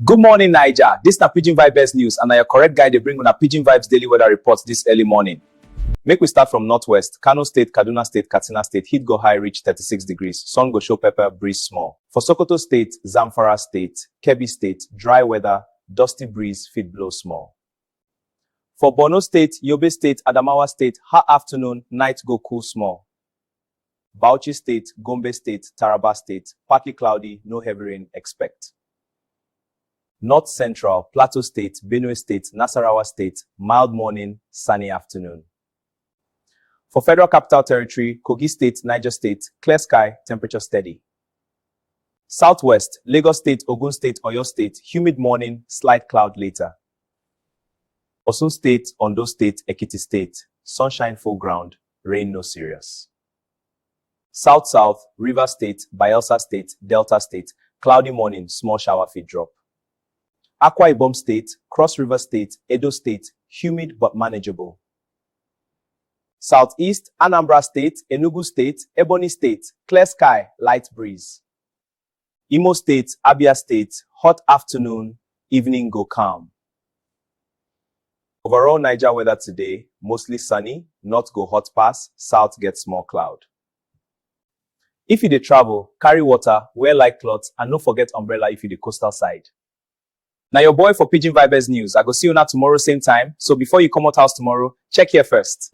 Good morning, Naija. This na Pidgin Vibes News and na your correct guy dey bring una Pidgin Vibes daily weather report this early morning. Make we start from northwest. Kano State, Kaduna State, Katsina State, heat go high reach 36 degrees. Sun go show pepper, breeze small. For Sokoto State, Zamfara State, Kebbi State, dry weather, dusty breeze fit blow small. For Borno state, Yobe state, Adamawa state, ha afternoon, night go cool small. Bauchi state, Gombe state, Taraba state, partly cloudy, no heavy rain expect. North Central, Plateau State, Benue State, Nasarawa State, mild morning, sunny afternoon. For Federal Capital Territory, Kogi State, Niger State, clear sky, temperature steady. Southwest, Lagos State, Ogun State, Oyo State, humid morning, slight cloud later. Osun State, Ondo State, Ekiti State, sunshine full ground, rain no serious. South South, River State, Bayelsa State, Delta State, cloudy morning, small shower fit drop. Akwa Ibom State, Cross River State, Edo State, humid but manageable. Southeast, Anambra State, Enugu State, Ebonyi State, clear sky, light breeze. Imo State, Abia State, hot afternoon, evening go calm. Overall Niger weather today, mostly sunny, north go hot pass, south get small cloud. If you dey travel, carry water, wear light cloth and no forget umbrella if you dey coastal side. Na your boy for Pidgin Vibez News, I go see una tomorrow same time, so before you comot house tomorrow, check here first.